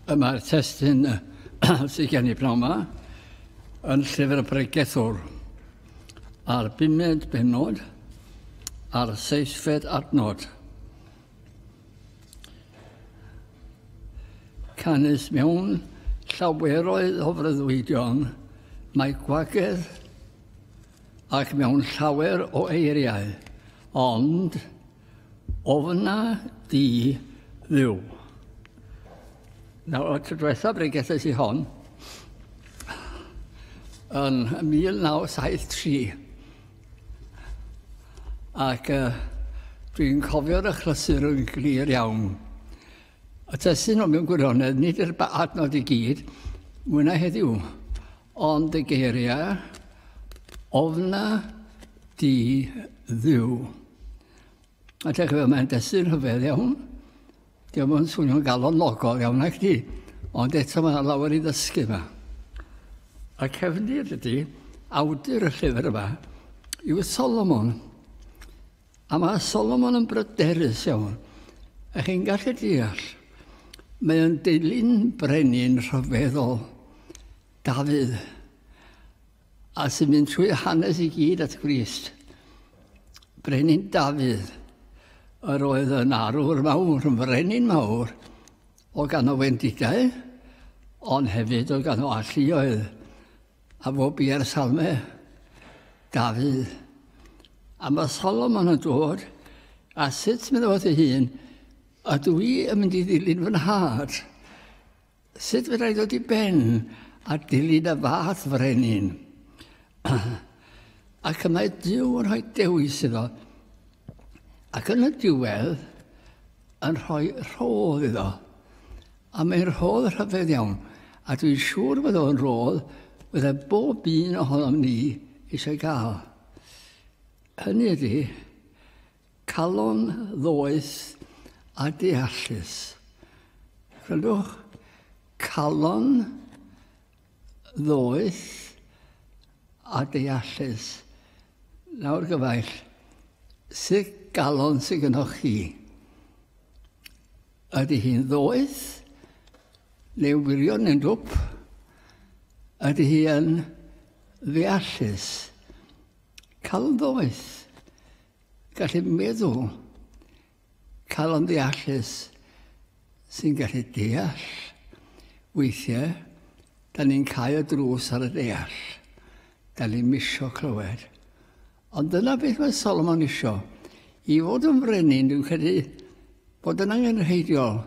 Y mae'r testyn sydd gen i bnawn yma yn llyfr y bregethwr a'r bumed benod a'r seisfed adnod. Canys mewn llaweroedd o freuddwydion mae gwagedd ac mewn llawer o eiriau, ond ofna di ddiw. Nawr, y tro diwethaf ble gethais i hon, yn 1973, ac uh, dwi'n cofio'r achlysur yn glir iawn. A testun o mewn gwirionedd, nid yr adnod i gyd, mwynau heddiw, ond y geiriau, ofna di ddiw. A te chyfel, mae'n destun rhyfedd iawn. Diolch yn swnio'n galonogol iawn ac di, ond eto mae lawer i ddysgu yma. A cefnir ydy, awdur y llyfr yma, yw Solomon. A mae Solomon yn bryderus iawn. A chi'n gallu deall, mae o'n dilyn brenin rhyfeddol, Dafydd, a sy'n mynd trwy hanes i gyd at Grist. Brenin Dafydd, yr oedd yn arwr mawr, yn frenin mawr, o gan o wendidau, ond hefyd o gan o alluoedd. A fo bia'r salme, Dafydd. A mae Solomon yn dod, a sut mynd fod ei hun, a dw i yn mynd i ddilyn fy nhad? Sut fydda i ddod i ben a dilyn y fath frenin? ac y mae Dyw yn rhoi dewis iddo. Ac yn y diwedd, yn rhoi rhodd iddo. A mae'n rhodd rhyfedd iawn, a dwi'n siŵr fod o'n rhodd fydde bob un ohonom ni eisiau gael. Hynny ydy, calon ddoeth a deallus. Rydwch, calon ddoeth a deallus. Nawr gyfaill, sut galon sy'n gynnwch chi? Ydy hi'n ddoeth? Neu wirion yn dwp? Ydy hi yn ddeallus? Cael yn ddoeth? Gallu meddwl? Cael yn ddeallus sy'n gallu deall? Weithiau, da ni'n cael y drws ar y deall. Da ni'n misio clywed. Ond dyna beth mae Solomon isio. I fod yn frenin, dwi'n credu bod yn angenrheidiol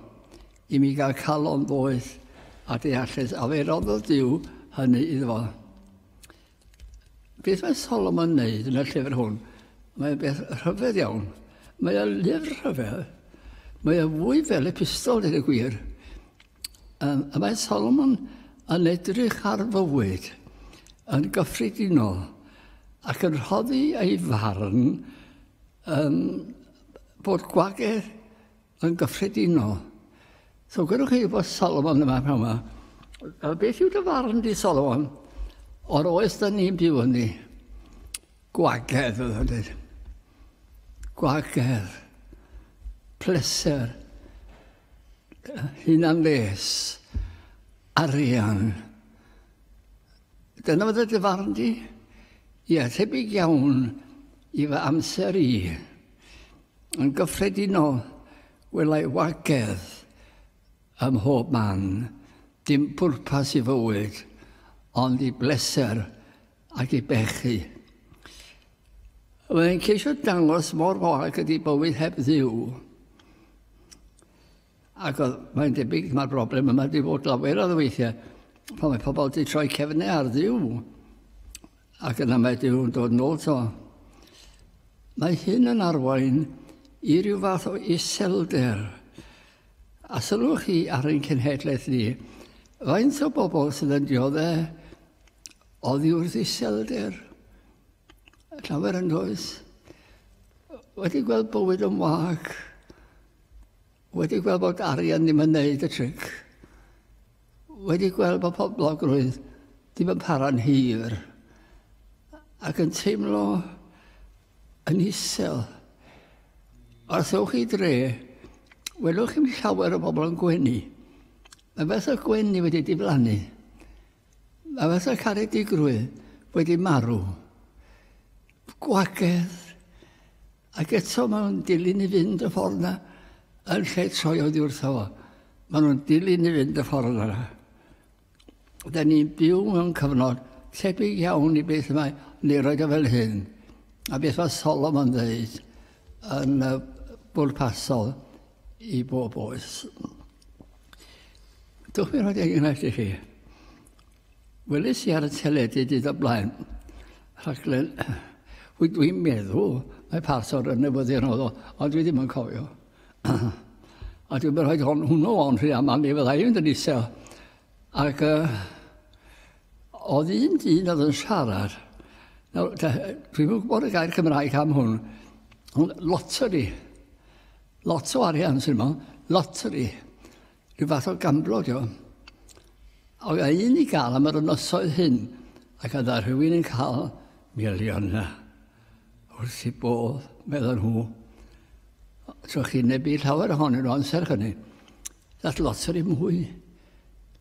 i mi gael calon ddoeth a deallus, a fe roddodd Dyw hynny iddo fo. Beth mae Solomon yn neud yn y llyfr hwn? Mae'n beth rhyfedd iawn. Mae'n lyfr rhyfedd. Mae'n fwy fel epistol, dweud y gwir. Um, y mae Solomon yn edrych ar fywyd yn gyffredinol ac yn rhoddi ei farn um, bod gwagedd yn gyffredinol. So gyda chi bod Solomon yma pnawn yma, uh, beth yw dy farn di Solomon o'r oes da ni'n byw yn ni? Gwagedd, oedd yn dweud. Gwagedd, pleser, hunanles, arian. Dyna fod y dy farn di? Ie, tebyg iawn i fy amser i. Yn gyffredinol, welai wagedd ym mhob man, dim pwrpas i fywyd, ond i bleser Ac i bechu. Mae e'n ceisio dangos mor gorau gyda bywyd heb ddiw. Ac mae'n debyg mae'r broblem yma wedi bod lawer o ddeweithiau pan mae pobl wedi troi cefnau ar ddiw ac yna mae Dyw'n dod nôl to. Mae hyn yn arwain i ryw fath o iselder. A sylwch chi ar ein cenhedlaeth ni, faint o bobl sydd yn dioddau Oddi wrth iselder, llawer yn oes, wedi gweld bywyd yn wag, wedi gweld bod arian ddim yn neud y tric, wedi gweld bod poblogrwydd ddim yn para'n hir, ac yn teimlo yn isel. Os ewch i dre, welwch chi'n llawer o bobl yn gwenu. Mae beth o gwenu wedi diflannu. A fysa caredigrwydd wedi marw, gwagedd, ac eto maen nhw'n dilyn i fynd y ffordd yna, yn lle troi oedd wrtho fo. Maen nhw'n dilyn i fynd y ffordd yna. Da ni'n byw mewn cyfnod tebyg iawn i beth mae Neroed o fel hyn, a beth mae Solomon ddeud yn y bwrpasol i bob oes. Dwch mi roi enghraifft i chi. Welis i ar y teledu dyd o blaen rhaglen Wy dwi'n meddwl mae partor yn newyddion oedd o, ond dwi ddim yn cofio. a dwi'n mynd rhoi hon, hwnnw o'n rhy aml, ni fydda i'n dyn isel. Ac uh, oedd un dyn oedd yn siarad, nawr, dwi'n gwybod y gair Cymraeg am hwn, ond loteri. Lot o arian sy'n yma, lottery, rhyw fath o gamblo dio. Oedd a un i gael am yr ynosoedd hyn, ac oedd a rhywun yn cael miliona. Wrth i bodd, meddyn nhw. So chi'n nebu llawer ohonyn nhw amser hynny. That lottery mwy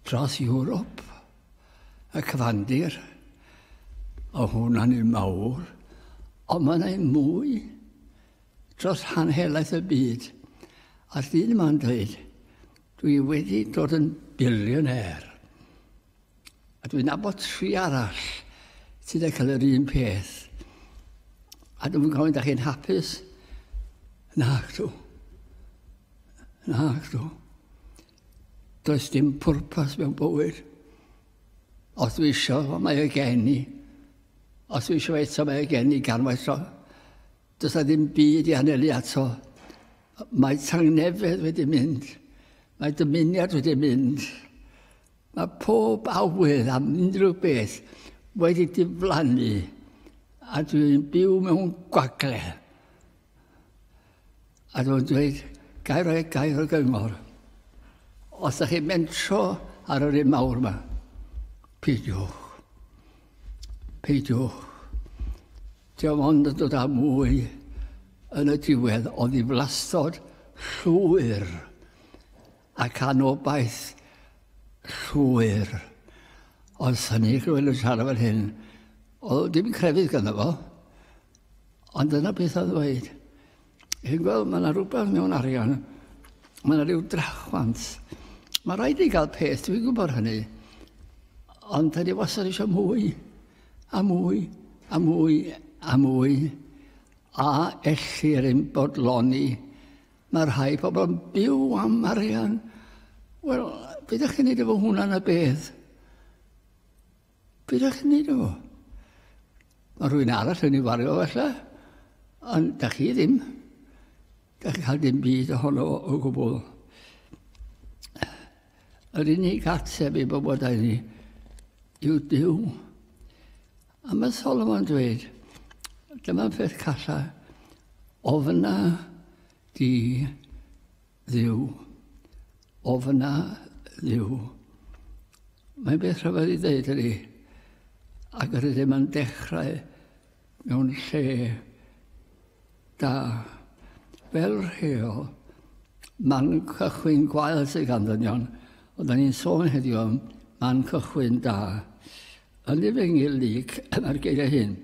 dros Europe, y cyfandir. O hwnna'n un mawr, ond mae'n ein mwy dros rhan helaeth y byd, a dyn yma'n dweud, dwi wedi dod yn billionaire. A dwi'n nabod tri arall sydd wedi cael yr un peth. A dwi'n gofyn, da chi'n hapus? Na, dw. Na, dw. Does dim pwrpas mewn bywyd. Os dwi eisiau, mae y gen i. Os dwi eisiau eto, mae y gen i gan waetho. Does na ddim byd i anelu ato. Mae tangnefedd wedi mynd. Mae dymuniad wedi mynd. Mae pob awydd am unrhyw beth wedi diflannu a dwi'n byw mewn gwagle. A dwi'n dweud, gair o, gair o gyngor. Os ydych chi'n mentro ar yr un mawr yma, peidiwch. Peidiwch. Dim ond yn dod â mwy yn y diwedd o ddiflastod llwyr ac anobaith llwyr. Os hynny chi wedi siarad fan hyn, o, dim crefydd gyda fo, ond dyna beth oedd dweud. Chi'n gweld, mae yna rhywbeth mewn arian, mae yna rhyw drachwant. Mae rhaid i gael peth, dwi'n gwybod hynny. Ond da ni wastad eisiau mwy. A mwy, a mwy, a mwy. A ellir ein bodloni? Mae rhai pobl yn byw am arian. Wel, beth ydych chi'n neud efo hwnna na beth? Beth ydych chi'n neud efo? Mae rhywun arall yn ei wario felly, ond da chi ddim. Gallai cael dim byd ohono fo o gwbl. Yr unig ateb i bywydau ni yw Dyw. A mae Solomon dweud, dyma'r peth calla, ofna di ddiw, ofna ddiw. Mae'n beth rhyfedd i ddeud ydy, ac yr ydym yn dechrau mewn lle da. Fel rheol, man cychwyn gwael sydd gan ddynion, ond da ni'n sôn heddiw am man cychwyn da. Yn ei fengil lyc mae'r geiriau hyn.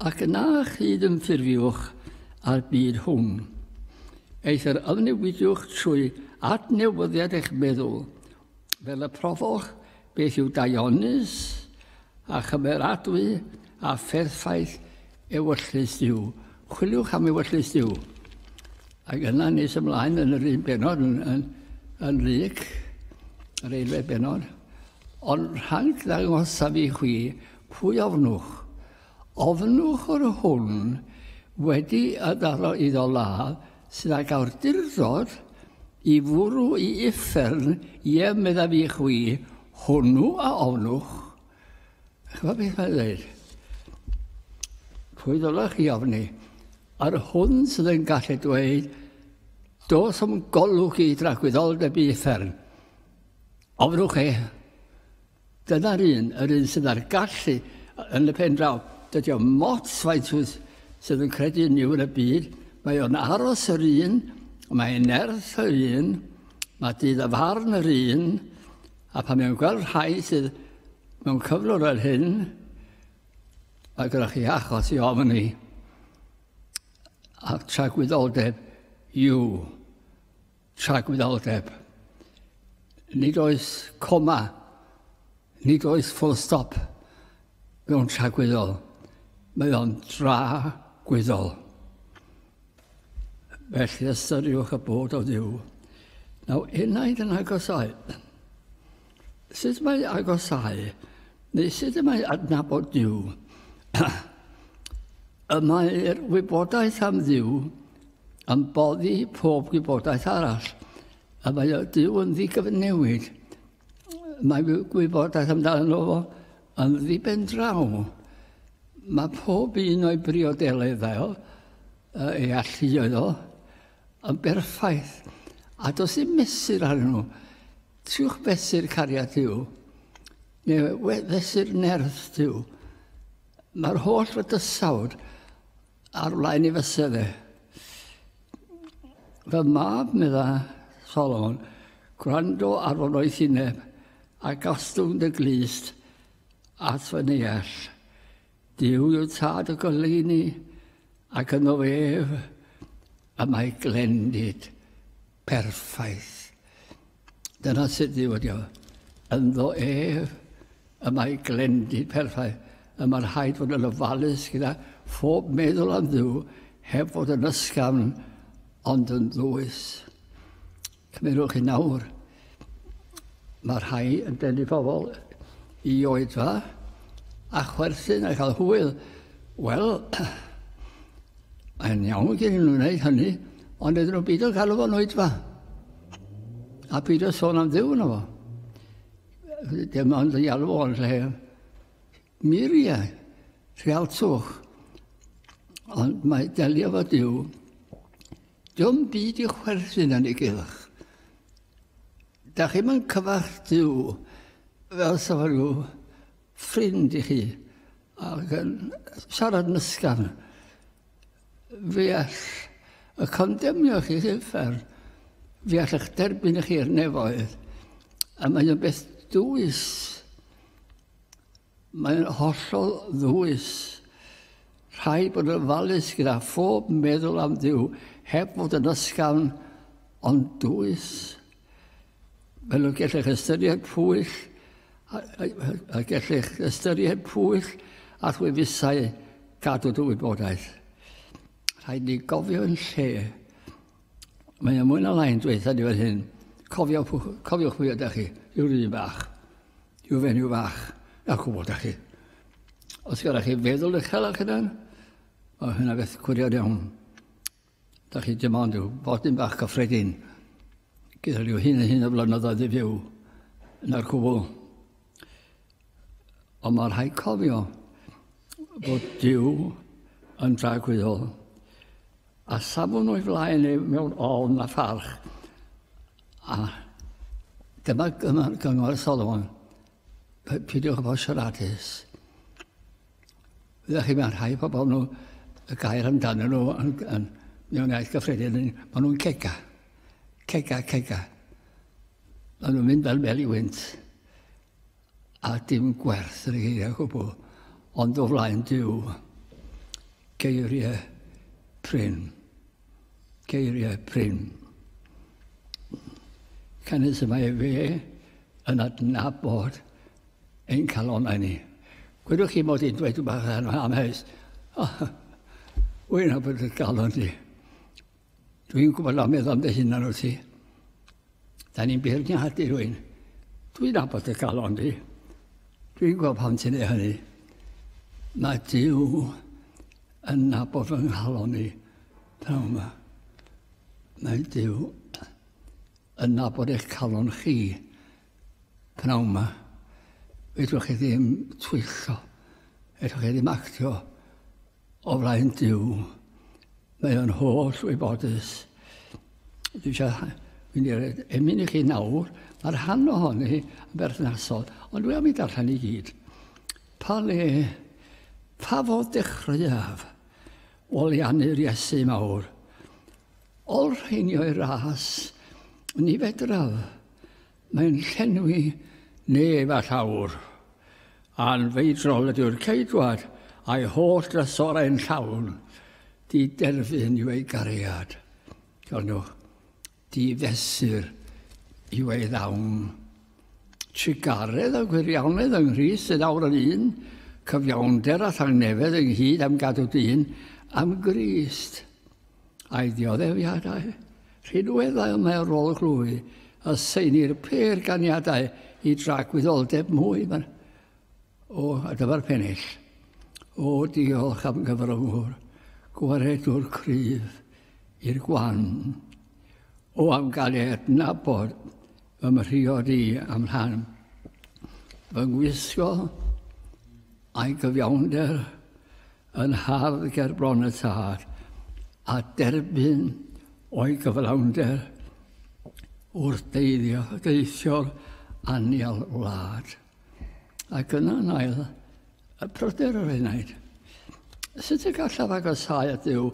Ac yna chyd yn ffurfiwch a'r byd hwn. Eithr ymnewidiwch trwy adnewyddiad eich meddwl Fel y profoch, beth yw daionus a chymeradwy a pherffaith ewyllys Duw? Chwiliwch am ewyllys Duw. Ac yna nes ymlaen yn yr un benod yn, yn, yn lyc, yr eilfed benod. Ond rhag ddangosaf i chwi, pwy ofnwch? Ofnwch o'r hwn wedi y daro iddo ladd, sydd ag awdurdod i fwrw i uffern, ie, meddaf i chwi, hwnnw a ofnwch. Chyfa beth mae'n dweud? Pwy ddylech chi ofni? Ar hwn sydd yn gallu dweud, dos am golwg i dragwyddoldeb i uffern. Ofnwch e, Dyna'r un, yr un sydd â'r gallu yn y pen draw. Dydy o mots faint wyth sydd yn credu yn niw yn y byd. Mae o'n aros yr un, mae nerth yr un, mae dydd a farn yr un, a pan mae'n gweld rhai sydd mewn cyflwr yr hyn, mae gyda chi achos i ofyn i a tragwyddoldeb yw Tragwyddoldeb. Nid oes coma, nid oes full stop mewn tragwyddol. Mae o'n dragwyddol. Felly ystyriwch y bod o ddiw. Nawr, unai yn agos oed. Sut mae agosau, neu sut y mae adnabod Dyw? y mae'r wybodaeth am Ddyw yn boddi pob gwybodaeth arall. Y mae Dyw yn ddigyfnewid. Mae gwybodaeth amdano fo yn ddiben draw. Mae pob un o'i briodeleddau, ei alluoedd o, yn berffaith, a does dim mesur ar nhw. Trwch fesur cariad yw, neu fesur nerth yw. Mae'r holl fydysawd ar flaen ei fysau fe. Fy mab, medda Solomon, gwrando ar fy oes ineb, a gostwng dy glist at fy neall. Duw yw tad y goleuni, ac yno ef y mae glendid perffaith. Dyna sut Duw ydi o. Ynddo ef y mae glendid perffaith. Y mae rhaid fod yn ofalus gyda phob meddwl am Dduw heb fod yn ysgafn ond yn ddwys. Cymerwch yn awr, mae rhai yn denu pobl i oedfa a chwerthin a cael hwyl. Wel, mae'n iawn gen nhw'n gwneud hynny, ond ydyn nhw'n byd o'n galw fo'n oedfa. A byd o'n sôn am ddiw yno fo. Dim ond y alw o'n lle Muriau, rhealtwch, ond mae delio efo Duw, diom byd i chwerthin yn ei gylch. Da chi'n mynd cyfarch Duw fel sef rhyw ffrind i chi ac yn siarad mysgan. Fe all y condemnio chi i'r fer, fe all eich derbyn i chi'r nefoedd, a mae'n beth dwys. Mae'n hollol ddwys. Rhaid bod yn ofalus gyda phob meddwl am Dduw, heb fod yn ysgafn ond dwys. Fel y gellech ystyried pwyll, a, a, a gellech ystyried pwyll a chwefusau gadw dy wybodaeth. Rhaid ni gofio yn lle Mae mwy na lai'n dweud ni fel hyn, cofiwch, cofiwch pwy ydych chi, rhyw rydyn bach, rhyw fenyw fach, na cwbl ydych chi. Os gyda chi feddwl eich hela chi dan, o hynna beth cwriad iawn. Da chi dim ond yw bodyn bach cyffredin gyda rhyw hyn a hyn o flynyddoedd i fyw na'r cwbl. Ond mae rhaid cofio bod Dyw yn dragwyddol A safwn o'i flaen ei mewn ofn a pharch. A dyma gyngor y Solomon, pidiwch bod siaradus. Ydych chi, mae'n rhai pobl nhw, y gair amdano nhw yn, yn mewn iaith gyffredin, maen nhw'n cega. Cega, cega. Maen nhw'n mynd fel meli wynt. A dim gwerth yr geiriau gwbl, ond o flaen Duw. Geiriau prin. Geiriau prin. Canys y mae fe yn adnabod ein calonau ni. Gwydwch chi mod i'n dweud rhywbeth yn amheus. Wy'n abod y galon ni. Dwi'n gwybod am meddwl am dy hunan wrth ti. Da ni'n beirniadu rwy'n. Dwi'n abod y galon di. Dwi'n gwybod pam ti'n ei hynny. Mae Dyw yn nabod fy nghalon i. Pnawn yma. Mae Dyw yn nabod eich calon chi. Pnawn yma. Fedrwch chi ddim twyllo. Fedrwch chi ddim actio O flaen Duw, mae o'n holl wybodus. Dwi eisiau mynd i'r emyn i chi nawr, mae'r rhan ohoni yn berthnasol, ond dwi am i darllen i gyd. Pa le, pa fod dechreuaf, olianu'r Iesu mawr. Ol rheinio i'r ras, ni fedraf, Mae'n llenwi nef â llawr. Anfeidrol ydyw'r Ceidwad, a'i holl drysorau'n llawn. Diderfyn yw ei gariad. Cernwch, difesur yw ei ddawn. Trugaredd a gwirianedd yng Nghrist sydd awr yn un, cyfiawnder a thangnefedd ynghyd am gadw dyn am Grist. a'i dioddefiadau rhinweddau ymarferol glwy a seinir pêr ganiadau i dragwyddoldeb mwy man o a dyfa'r pennill. O, diolch am gyfrymwr, gwaredwr cryf i'r gwan. O, am gael ei adnabod fy mhriod i am rhan fy ngwisgo a'i gyfiawnder yn hardd gerbron y tad a derbyn o'i gyflawnder wrth deithio, deithio'r anial wlad. Ac yna yn ail, y pryder yr enaid. Sut y gallaf agosau at Dduw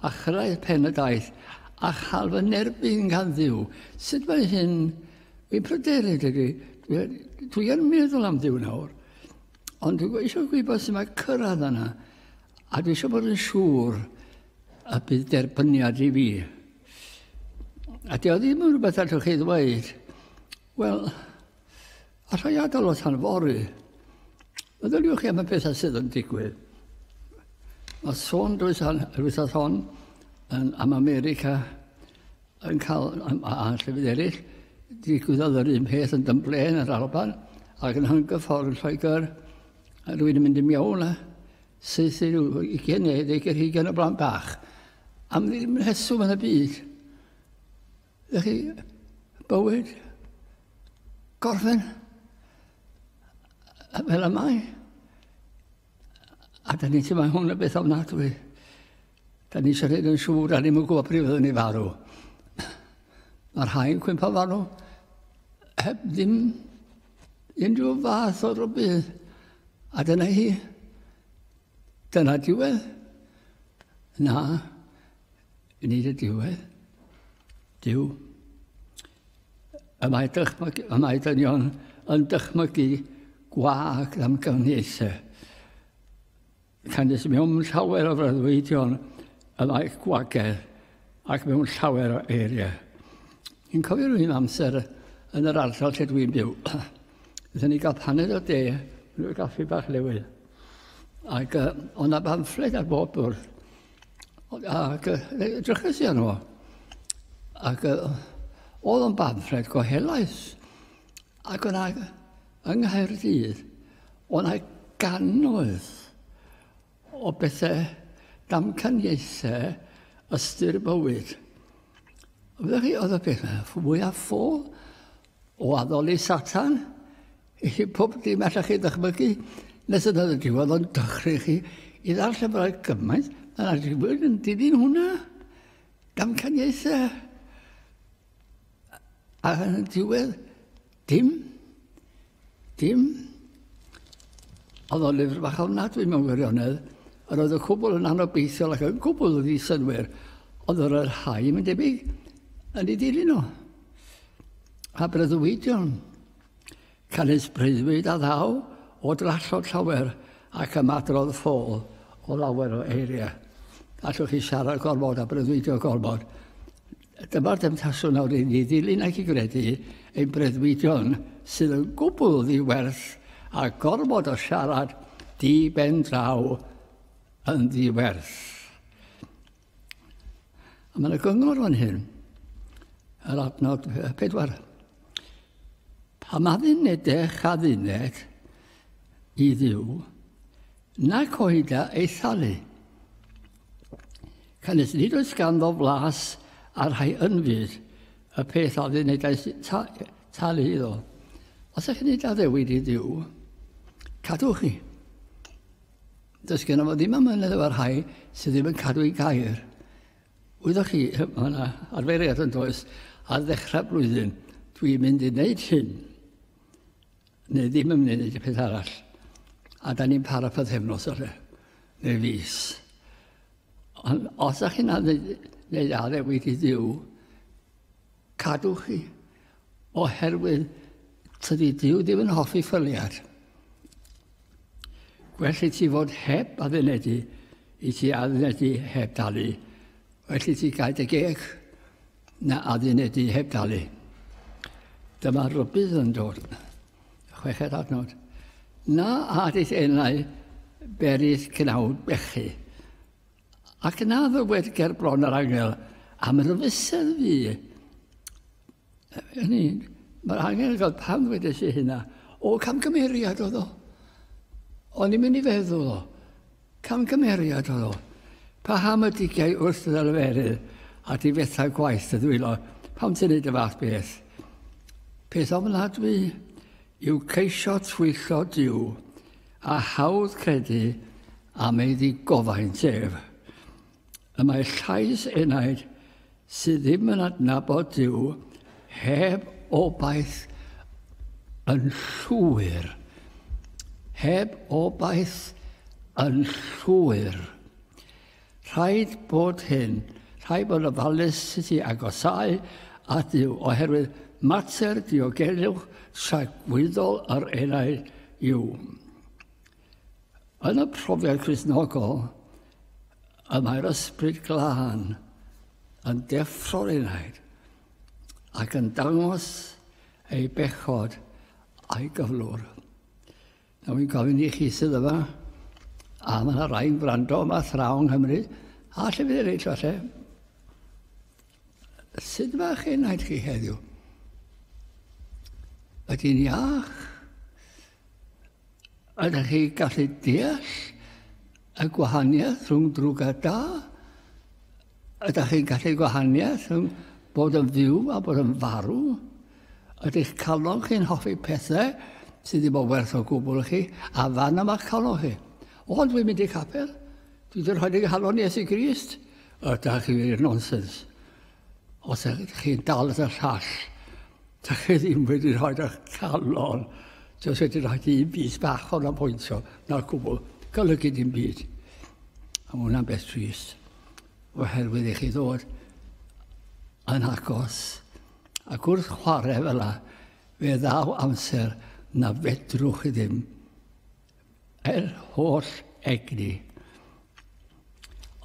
a chyrraedd pen y daith a chael fy nerbyn gan Dduw? Sut mae hyn fi'n pryderu, dydy? Dwi yn meddwl am Dduw nawr. Ond dwi eisiau gwybod sy'n mae cyrraedd yna. A dwi eisiau bod yn siŵr y bydd derbyniad i fi. A di o ddim yn rhywbeth allwch chi ddweud, wel, a rhai adael o tan fori, meddyliwch chi am y pethau sydd yn digwydd. Mae sôn drwy yr wythnos hon yn, am America, yn cael anllefydd eraill. Digwyddodd yr un peth yn Dunblane yr Alban ac yn Hungerford yn Lloegr. A rwy'n mynd i mewn a syth i ryw 20 neu ddeugain hugain o blant bach. Am ddim rheswm yn y byd. Ydych chi, bywyd, gorffen, fel y mae. A da ni'n teimlo hwn y beth ofnadwy. Da ni eisiau gwneud yn siŵr, da ni'n gwybod pryd fyddwn ni farw. Mae'r rhai'n cwympa farw heb ddim unrhyw fath o rybydd. A dyna hi. Dyna diwedd. Na, yn nid y diwedd. Dyw. Y mae, dychmyg, y mae dynion yn dychmygu gwag am gyfniaethau. Canys mewn llawer o freuddwydion y ddaeth gwagedd ac mewn llawer o eiriau. Yn cofio rhywun amser yn yr ardal lle dwi'n byw. Ydyn ni gael paned o de, rhyw'r gaffi bach newydd. Ac uh, o'n na bamffled ar bob bwrdd. Ac uh, drychus i arno. Ac uh, oedd o'n bamffled gohelaeth. Ac o'na Yng Nghaerdydd, o' 'na gannoedd o bethe damcaniaethe ystyr y bywyd. Fel chi, oedd y peth fwya ffôl o addoli Satan i chi pob dim allech chi ddychmygu, nes yna y diwedd o'n dychryn chi i ddarllen bod 'na gymaint, a na dim byd yn dilyn hwnna. Damcaniaethe. A yn y diwedd, Dim. Dim. Oedd o'n lyfr bach ofnadwy mewn gwirionedd. Yr oedd y cwbl yn anobeithiol ac yn gwbl ddi synwyr. Oedd yr oedd rhai, mae'n debyg, yn ei dilyn o. A bryddwyd John. Canys breuddwyd a ddaw o drallod llawer ac ymadrodd ffôl o lawer o eiriau. Allwch chi siarad gormod a breuddwydio gormod. Dyma'r demtasiwn nawr i ni ddilyn ac i gredu ein breuddwydion sydd yn gwbl ddiwerth a gormod o siarad di ben draw yn ddiwerth. A mae'n y gyngor fan hyn, yr adnod pedwar. Pa ma ddynedech a ddyned i ddiw, nac oeda ei thalu. Canys nid oes ganddo flas a rhai ynfyd, y peth a ddynedais ta, talu iddo. Os ych nid addewid i ddiw, cadwch chi. Does gen fo ddim amynedd efo rhai sydd ddim yn cadw i gair. Wyddoch chi, mae yna arferiad yn does ar ddechrau blwyddyn, dwi'n mynd i wneud hyn. Neu ddim yn mynd i wneud y peth arall. A da ni'n para pythefnos o lle. Neu fus. Ond os ydych chi'n gwneud addewid i ddiw, cadw chi. Oherwydd tydi diw ddim yn hoffi ffyliad. Gwell i ti fod heb addunedi i ti addunedi heb dalu. Well i ti gael dy geg Na addunedi heb dalu. Dyma rybydd yn dod. Chweched adnod. Na adis enau beris cnawd bechu. Ac na ddywed gerbron yr angel am rybysedd fi. Yn un, mae'r angel yn cael pam ddweud eisiau hynna. O, camgymeriad oedd o. O'n i'n mynd i feddwl o. Camgymeriad oedd o. Paham y digiau wrth y ddelferydd a difetha gwaith y ddwylo? Pam ti'n neud y fath beth? Peth ofnadwy yw ceisio twyllo Duw a hawdd credu am ei ddigofaint ef. Y mae llais enaid sydd ddim yn adnabod Duw heb obaith yn llwyr. Heb obaith yn llwyr. Rhaid bod hyn, rhaid bod ofalus sut i agosau at Duw, oherwydd mater diogelwch tragwyddol yr enaid yw. Yn y profiad Cristnogol, y mae'r ysbryd glân yn deffro'r enaid ac yn dangos ei bechod a'i gyflwr. Nawr fi'n gofyn i chi sydd yma, a mae yna rai'n gwrando yma thraw yng Nghymru, a lle fydd eraill falle, sut mae chi enaid chi heddiw? Ydy'n iach? Ydych chi gallu deall y gwahaniaeth rhwng drwg a da? Ydych chi'n gallu gwahaniaeth rhwng bod yn fyw a bod yn farw? Ydych calon chi'n hoffi pethau sydd ddim o werth o gwbl i chi, a fan yma calon chi. O, dwi'n mynd i capel. Dwi wedi rhoi dy halon i Iesu Grist. Ydych chi wir nonsens. Os ydych chi'n dal at y llall, dych chi ddim wedi rhoi eich calon. Does wedi rhoi dim byd bach o'n apwyntio, na'r gwbl, golygu dim byd. A mae hwnna'n beth trist, oherwydd i chi ddod yn agos a gwrth chwarae fel yna, fe ddaw amser na fedrwch chi ddim Yr holl egni.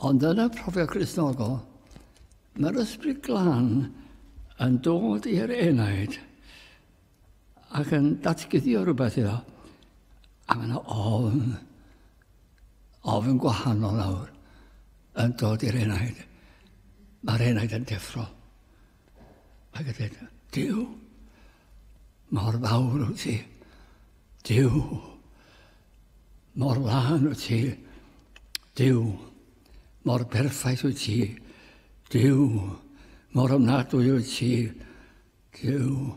Ond yn y profiad Gristnogol, mae'r ysbryd glân yn dod i'r enaid ac yn datguddio rhywbeth iddo. A mae yna ofn, ofn gwahanol nawr, yn dod i'r enaid. Mae'r enaid yn deffro. Ac a dweud, Dyw, mor fawr wyt ti. Dyw, mor lân wyt ti. Dyw, mor berffaith wyt ti. Dyw, mor ymnadwy wyt ti. Dyw,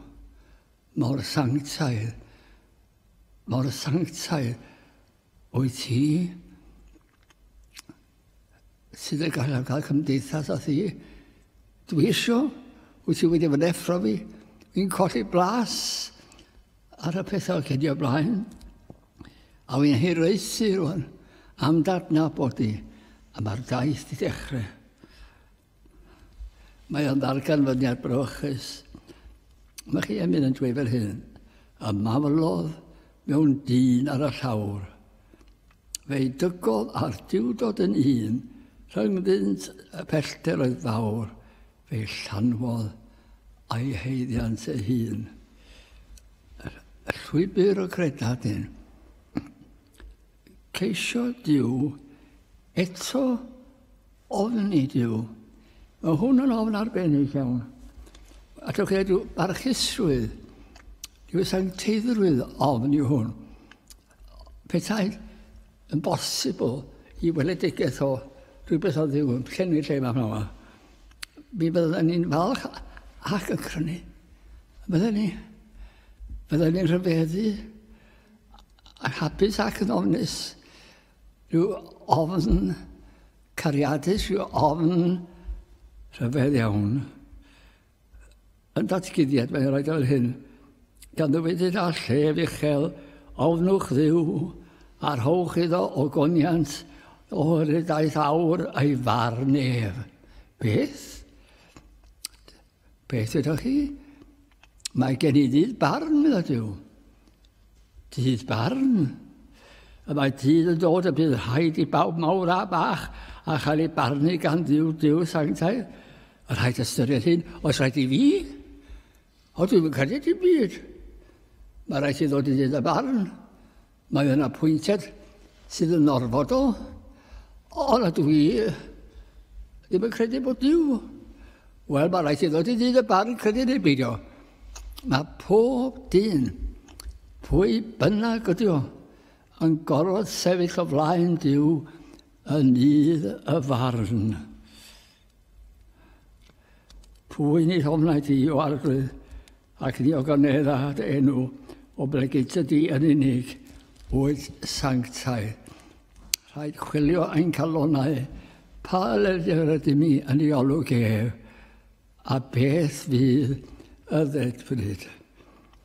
mor sanctaidd. Mor sanctaidd wyt ti. sydd yn gallu cael cymdeithas a thi. Dwi eisiau, wyt ti wedi fy neffro fi, fi'n colli blas ar y pethau cedi o blaen, a fi'n hiraethu rwan am dadnabod i, a mae'r daith i ddechrau. Mae o'n ddarganfyddiad brawychus. Mae chi yn mynd yn dweud fel hyn, a maflodd mewn dyn ar y llawr. Fe'i dygodd a'r diwdod yn un, rhyngddynt y pellter oedd fawr, fe'i llanwodd a'i heiddiant ei hun. Llwybr y credad hyn. ceisio Duw, eto ofn i Duw. Mae hwn yn ofn arbennig iawn. A dwi'n credu barchusrwydd, dwi'n sancteiddrwydd ofn i hwn. Pethau yn bosibl i weledigaeth o rhywbeth o ddiw yn llenwi lle mae hwnna. Mi byddwn ni'n falch ac yn crynu. Byddwn ni, byddwn ni'n rhyfeddu Yn hapus ac yn ofnus. Rhyw ofn cariadus, rhyw ofn rhyfedd iawn. Yn datguddiad, mae'n rhaid o'r hyn. Gan ddywedydd a llef uchel, ofnwch ddiw, a rhowch iddo o goniant, oherwydd daeth awr ei farn ef. Beth? Beth ydych chi? Mae gen i ddydd barn, medda Dyw. Dydd barn? Y mae dydd yn dod y bydd rhaid i bawb mawr a bach a chael ei barnu gan ddiw diw sanctau. Y rhaid ystyried hyn, os rhaid i fi? O, dwi'n credu dim byd. Mae rhaid i ddod i ddydd y barn. Mae yna pwyntiad sydd yn orfodol, ond a dwi ddim yn credu bod Dyw. Wel, mae rhaid i ddod i ddyn y barn credu neu beidio. Mae pob dyn, pwy bynnag ydi o, yn gorfod sefyll o flaen Dyw yn un y farn. Pwy ni hofnai di o arglwydd, ac ni o ganedda dy enw, o blegid dy di yn unig, wyt sanctaidd. Rhaid chwilio ein calonau, pa leddfu rydym ni yn ei olwg ef, a beth fydd y ddedfryd.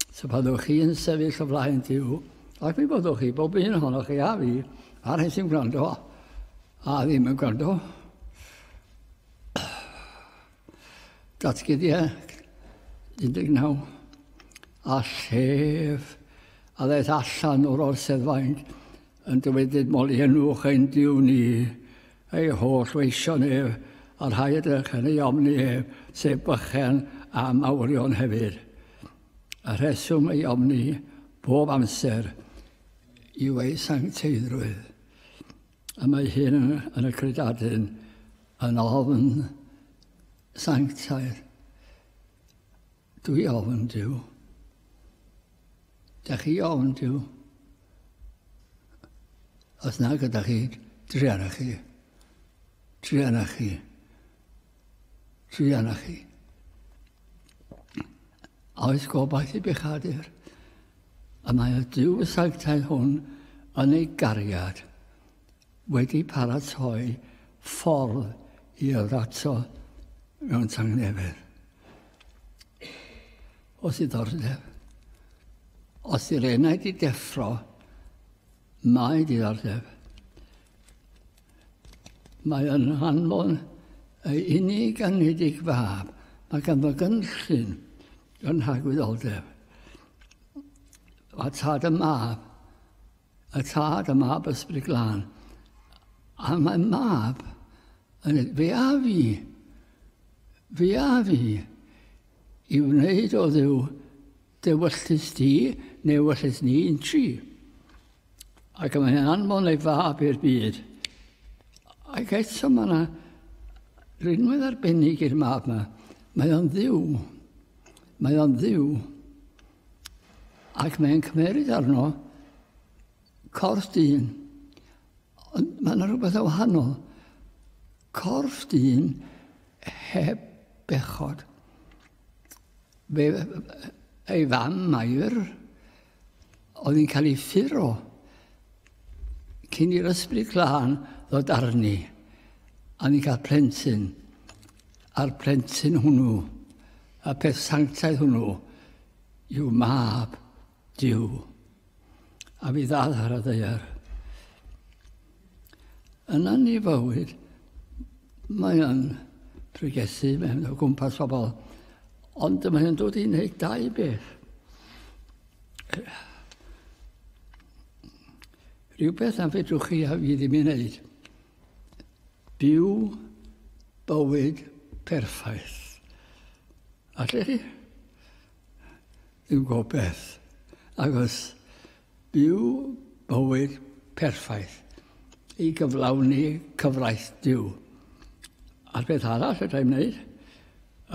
So byddwch chi yn sefyll o flaen Dyw, ac mi byddwch chi, bob un ohonoch chi a fi, a'r hyn sy'n gwrando, A ddim yn gwrando. Datgyddiau 19. A llef a ddaeth allan o'r orsedd faint yn dywedyd moli enwch ein diw ni, ei holl weision ef, a'r rhai ydych yn ei omni ef, sef bychen a mawrion hefyd. A rheswm ei omni bob amser yw ei sancteiddrwydd. A mae hyn yn y credadun yn ofn sanctaidd. Dwi ofn Dyw. Da chi ofn Dyw. Os na gyda chi, triana chi. Triana chi. Triana chi. Oes gobaith i bechadur. Y mae y Duw y sanctaidd hwn yn ei gariad wedi paratoi ffordd i yrrato mewn tangnefedd. Os i ddordeb. Os i'r enaid i deffro, mae diddordeb. Mae yn hanfon ei unig anedig fab. Mae ganddo gynllun yn rhagwyddoldeb. Mae tad y mab, y tad y mab ysbryd glân, a mae mab yn fe a fi, fe a fi, i wneud o ddew dewyllus di, neu wyllus ni yn tri. Ac mae hyn anfon ei fab i'r byd. Ac eto mae yna rinwedd arbennig i'r mab yma. Mae o'n ddiw. Mae o'n ddiw. Ac mae'n cymeryd arno corff dyn. Ond mae yna rhywbeth o wahanol. Corff dyn heb bechod. Fe, ei fam Mair, Oedd yn cael ei ffuro cyn i'r ysbryd glân ddod arni, a ni'n cael plentyn, a'r plentyn hwnnw, y peth sanctaidd hwnnw, yw mab Dyw. A fi ddal ar y ddeiar. Yn anifywyd, mae o'n pregethu mewn o gwmpas pobl, ond mae o'n dod i wneud dau beth. Rhywbeth na fedrwch chi a fi ddim i wneud. Byw bywyd perffaith. Allech chi? Dwi'n gwybod beth. Agos Byw bywyd perffaith i gyflawni cyfraith Duw. A'r peth arall fedra i wneud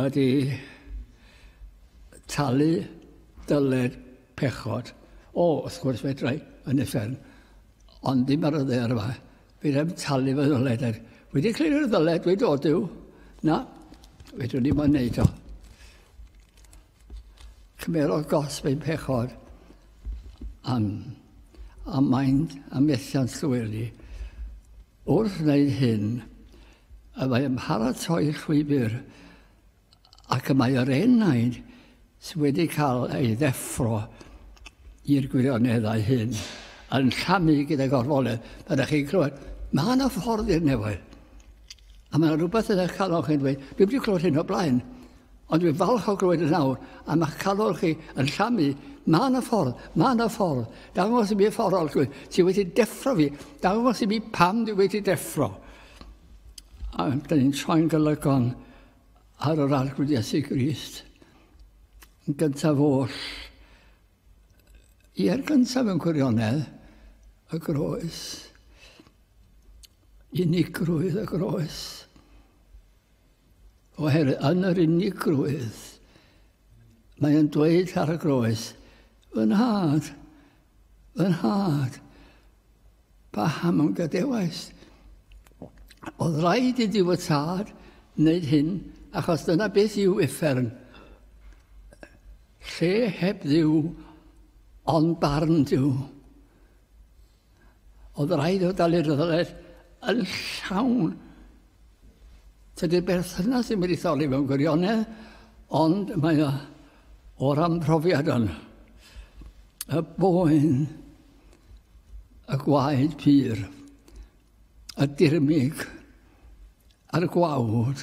ydy talu dyled pechod. O, wrth gwrs fedra i, yn uffern, ond ddim ar y ddaear yma. Fedra i'm talu fy ddyled. Er, wedi clirio'r ddyled, dweud o Duw, na, fedrwn i ddim wneud o. Cymerodd gosb ein pechod am, am maint a methiant llwyri. Wrth wneud hyn, y mae yn paratoi llwybr ac y mae yr enaid sydd wedi cael ei ddeffro i'r gwirioneddau hyn yn llamu gyda gorfoledd. Mae ydych chi'n clywed, mae yna ffordd i'r nefoedd. A mae yna rhywbeth yn eich calon chi'n dweud, dwi wedi clywed hyn o blaen. Ond dwi'n falch o glywed yn awr am eich canol chi yn llamu. Mae yna ffordd, mae yna ffordd. Dangos i mi y ffordd o'r llwyth. Ti wedi deffro fi. Dangos i mi pam dwi wedi deffro. A dyn ni'n troi'n gylygon ar yr arglwydd Iesu Grist. Yn gyntaf oll, i'r gyntaf yn gwirionedd, y groes. Unigrwydd y groes. Oherwydd yn yr unigrwydd, mae e'n dweud ar y groes, Fy nhad, fy nhad, paham yn gadewais. Oedd rhaid i Duw y Tad wneud hyn, achos dyna beth yw uffern. Lle heb ddiw, ond barn Duw. Oedd rhaid o dalu ryddoedd yn llawn. Tydy'r berthynas ddim wedi tholi mewn gwirionedd, ond mae o o ran profiad yn y boen, y gwaed pur, y dirmig a'r gwawd.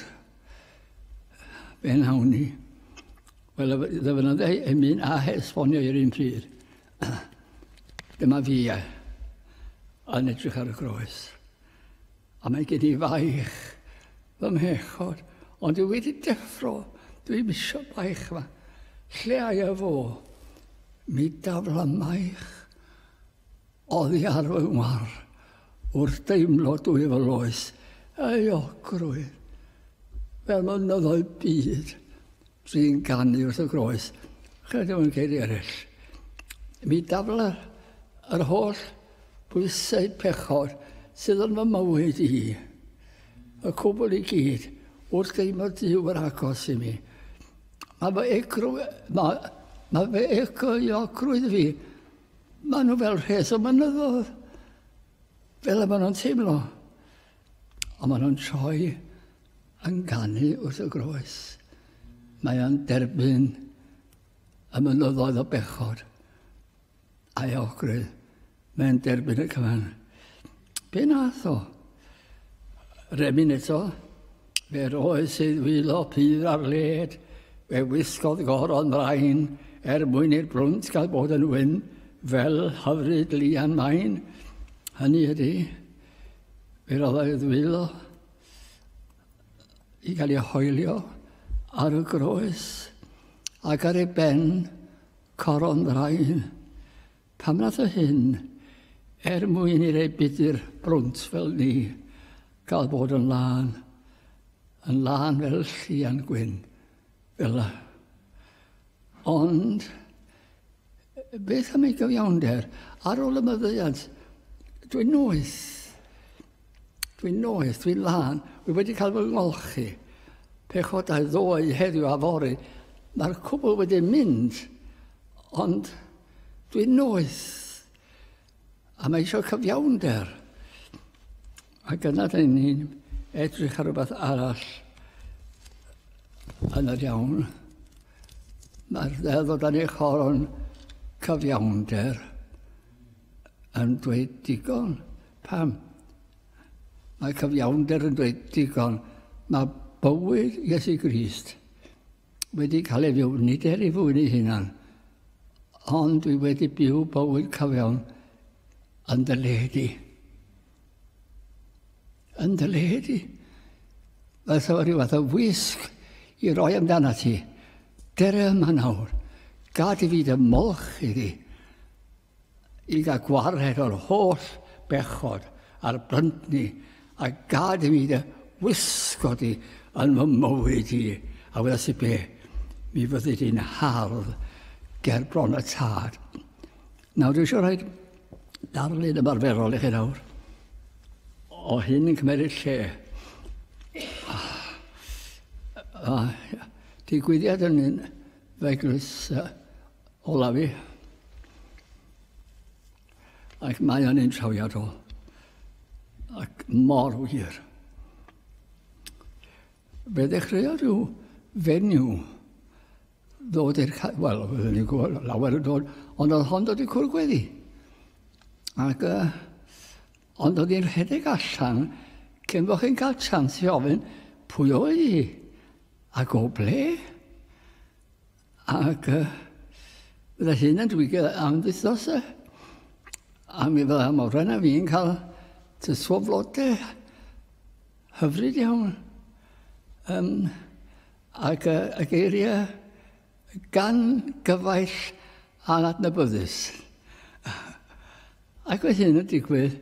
Be nawn ni? Wel, ddyfynodau yn mynd a hesbonio i'r un pryd. Dyma fi e, yn edrych ar y groes. A mae gen i faich fy mhechod, ond dwi wedi deffro, dwi misio baich yma. Lle ai e fo? Mi dafla maich oddi ar fy ngwar wrth deimlo dwy fy loes, ei ogrwydd, fel mynyddoedd byd. Sy'n canu wrth y groes. Chyd o'n ceiri eraill. Mi dafla yr holl bwysau pechod sydd yn fy mywyd i. Y cwbl i gyd wrth deimlo Duw yr agos i mi. Mae fy egrw... Mae, mae fy ecoiogrwydd fi. Mae nhw fel rhes o mynyddodd. Fel y maen nhw'n teimlo. Ond maen nhw'n troi Yn canu wrth y groes, mae o'n derbyn y mynyddoedd o bechod a'i ogrwydd. Mae'n derbyn y cyfan. Be nath o? Remin eto, fe roedd sydd wylo pydd ar led, fe wisgodd goron mraen er mwyn i'r brwnt gael bod yn wyn fel hyfryd lian maen. Hynny ydy, fe roedd ei ddwylo i gael ei hoelio ar y groes ac ar ei ben coron ddraen. Pam nath o hyn? Er mwyn i rei budur brwnt fel ni gael bod yn lân, yn lân fel llian gwyn, fel la. Ond, beth am ei gyfiawnder? Ar ôl y myddeiant, dwi'n noeth. Dwi'n noeth, dwi'n lân, wi wedi cael fy ngolchi. Pechodau ddoe, heddiw a fori. Mae'r cwbl wedi mynd, ond dwi'n noeth. A mae eisiau cyfiawnder. A gyda dyn ni'n edrych ar rhywbeth arall yn yr iawn. Mae'r ddeddod yn eich horon cyfiawnder. yn dweud digon. Pam? Mae cyfiawnder yn dweud digon. Mae bywyd Iesu Grist wedi cael ei fyw, nid er i fwyn ei hunan, ond dwi wedi byw bywyd cyfiawn yn dy le di. Yn dy le di. Mae sef rhyw fath o wisg i roi amdana ti. Dere yma nawr. Gad i fi dy molch iddi. i gael gwared o'r holl bechod a'r blyntni a gad i mi dy wisgo di yn fy mywyd i, a wyddas i be, mi fyddi di'n hardd ger bron y tad. Nawr, dwi eisiau rhaid darlun ymarferol i chi nawr o hyn yn cymeriad lle. Ah, ah, digwyddiad yn un Eglwys olaf fi. Ac mae o'n un trawiadol. Ac mor wir. Fe ddechreuo rhyw fenyw ddod i'r... Wel, oedden ni'n gwybod lawer yn dod, ond oedd hon dod i cwrdd gweddi. Ac uh, Ond oedd hi'n rhedeg allan cyn bo chi'n cael chance i ofyn pwy oedd hi ac o ble. Ac uh, fydda hyn yn dwigio am wythnos e. A mi fydda Morgan a fi'n cael tyswo flode hyfryd iawn. Um, ac uh, y geiriau gan gyfaill anadnabyddus. Ac oedd hyn yn digwydd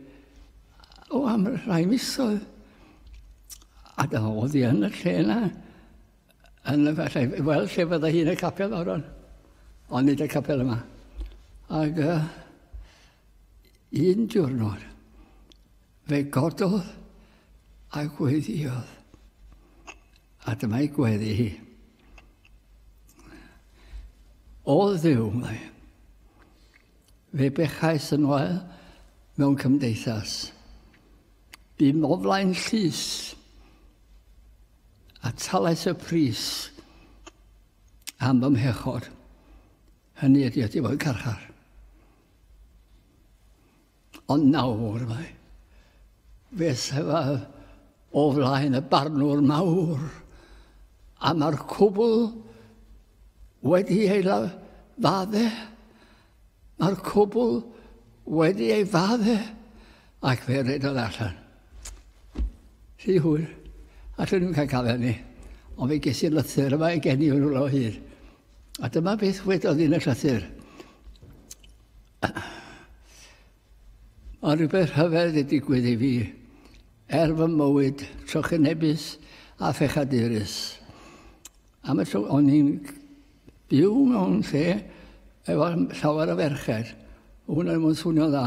o am rhai misoedd. A dyma oedd hi yn y lle yna, yn y falle, wel, lle fydda hi'n y capel o'r ond ond nid y capel yma. Ac uh, un diwrnod, fe gododd a gweithiodd. A dyma ei gweddi hi. O ddiw, mae. Fe bechais yn wael mewn cymdeithas. Bum o flaen llys, a talais y pris am fy mhechod. Hynny ydy, ydy fo'n carchar. Ond nawr mae fe sefaf o flaen y barnwr mawr, a mae'r cwbl wedi ei fadde. Mae'r cwbl wedi ei fadde, ac fe redodd allan. Rhy hwyr, a dyn nhw'n cael gafael ni, ond fe ges i lythyr yma i gen i o'n rhywle o hyd. A dyma beth wedodd yn y llythyr. Mae rhywbeth rhyfedd wedi digwydd i fi er fy mywyd trychinebus a phechadurus. Am y tro, o'n i'n byw mewn lle efo llawer o ferched. Hwn yn mwyn swnio dda.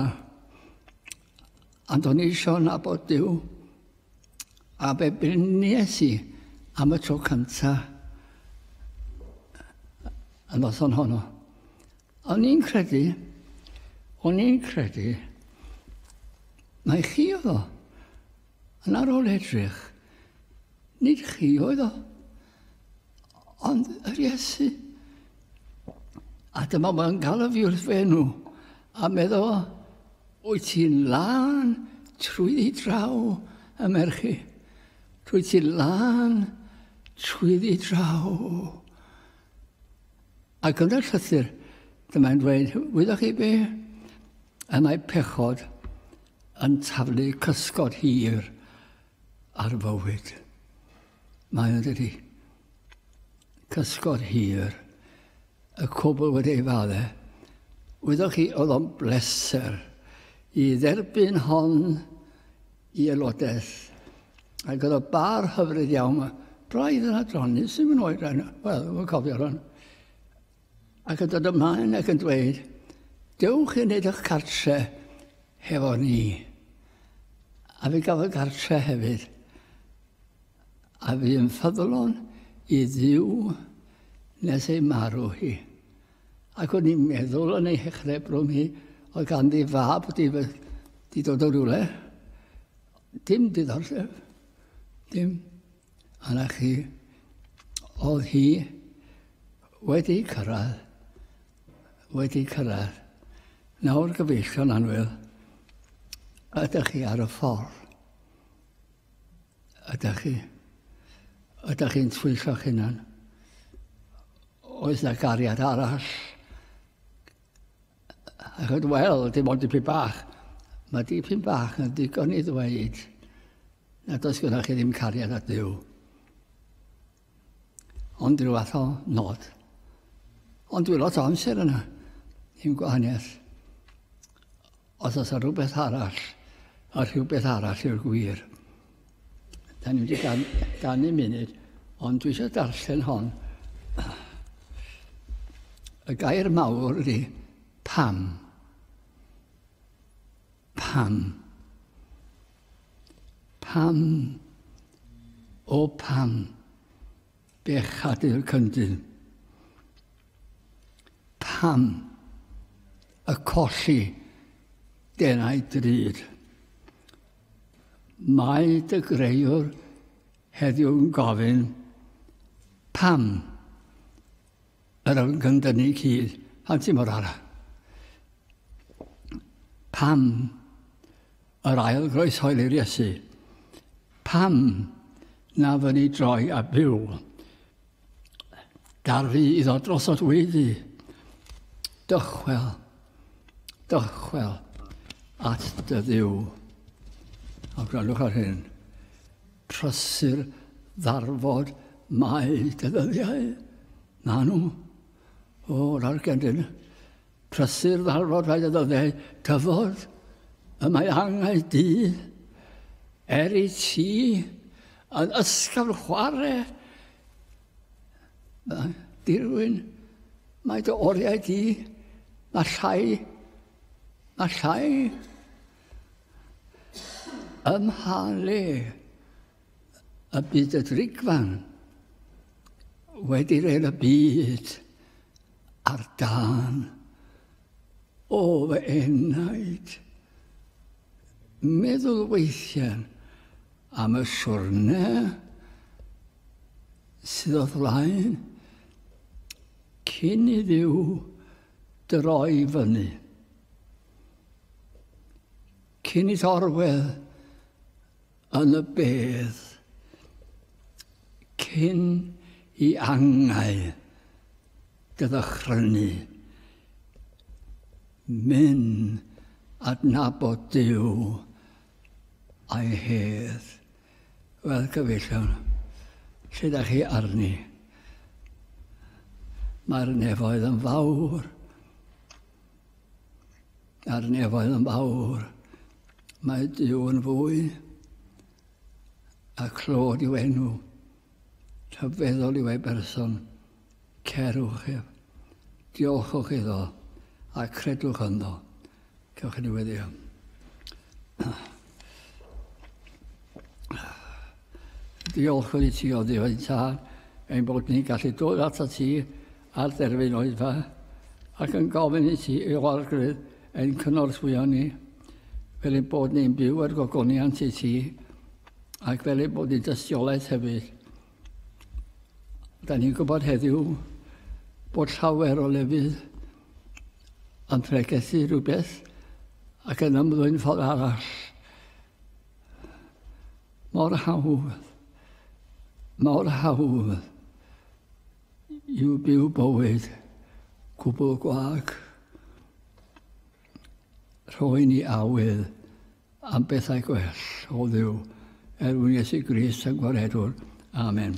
Ond o'n i eisiau nabod Dyw. A be brynies i am y tro cynta y noson honno. O'n i'n credu, o'n i'n credu, mae chi oedd o. Yn ar ôl edrych, nid chi oedd o, ond yr Iesu. A dyma mae'n galw fi wrth fe nhw, a meddo, wyt ti'n lan trwy ddi draw y merchu. Trwy ti'n lan trwy ddi draw. Ac yn y llythyr, dyma'n dweud, wyddoch chi be? Y mae pechod yn taflu cysgod hir ar fywyd. Mae'n dydy. Cysgod hir. Y cwbl wedi ei fale. Wyddoch chi, oedd o'n bleser i dderbyn hon i aelodaeth. Ac oedd o bar hyfryd iawn. Mae braidd yn adroni, sy'n mynd oed rhan, wel, mae'n cofio rhan. Ac yn dod ymlaen ac yn dweud, dewch i wneud eich cartre hefo ni. A fi gafodd gartre hefyd. A fi yn ffyddlon i ddiw nes ei marw hi. Ac o'n i'n meddwl yn ei hechrau bron hi, oedd ganddi fab di, di dod o rywle. Dim diddordeb. Dim. A na chi, oedd hi wedi cyrraedd. Wedi cyrraedd. Nawr gyfeillion anwyl, ydych chi ar y ffordd? Ydach chi? Ydach chi'n twyllo'ch hunan? Oes na gariad arall? Achos, wel, dim ond dipyn bach. Mae dipyn bach yn ddigon i ddweud nad oes gyda chi ddim cariad at Dduw. Ond rhyw fath o nod. Ond dwi'n lot o amser yna. Dim gwahaniaeth. Os oes rhywbeth arall, a rhywbeth arall yw'r gwir. Da ni wedi gan, ganu munud, ond dwi eisiau darllen hon. Y gair mawr ydy pam. Pam? Pam? O pam? Bechadu'r cyndyn. Pam? Y colli denau drud. Mae dy greiwr heddiw'n gofyn, pam? Yr oedd gan dynnu cyd a ti mor ara. Pam yr ail groes hoel i'r Iesu? Pam na fy ni droi a byw? Darfu iddo drosod wedi. Dychwel, dychwel at dy ddiw. A gwrandwch ar hyn. Prysur ddarfod mae dy ddyddiau, Manu. O, yr Argentyn. Prysur ddarfod mae dy ddyddiau, dyfod. Y mae angau di. Er i ti yn ysgafn chwarae. Dirwyn, mae dy oriau di. Mae llai. Mae llai. Ym mha le y bydd y ddrigfan wedi rhaid y byd ar dan o fy enaid. Meddwl weithiau am y siwrne sydd o flaen cyn i ddiw droi fyny. Cyn i orwedd yn y bedd, cyn i angau gydychrynu, mynd adnabod Dyw a'i hedd. Wel, gyfeillion, lle da chi arni? Mae'r nefoedd yn fawr. a'r nefoedd yn fawr. Mae Duw yn fwy, a clod i'w enw, rhyfeddol i'w ei berson. Cerwch ef, diolchwch iddo, a credwch ynddo. Cewch chi diweddio. Diolch wedi ti o ddiwedd ta, ein bod ni'n gallu dod at y ti a'r derfyn oedfa, ac yn gofyn i ti ei oergrydd ein cynorthwyo ni, fel ein bod ni'n byw ar gogoniant i ti, ac fel ein bod ni'n dystiolaeth hefyd. Da ni'n gwybod heddiw bod llawer o lefydd yn pregethu rhywbeth ac yn ymddwyn ffordd arall. Mor hawdd, mor hawdd I'w byw bywyd cwbl gwag, rhoi ni awydd am bethau gwell o ddiw, er mwyn Iesu Grist a Gwaredwr. Amen.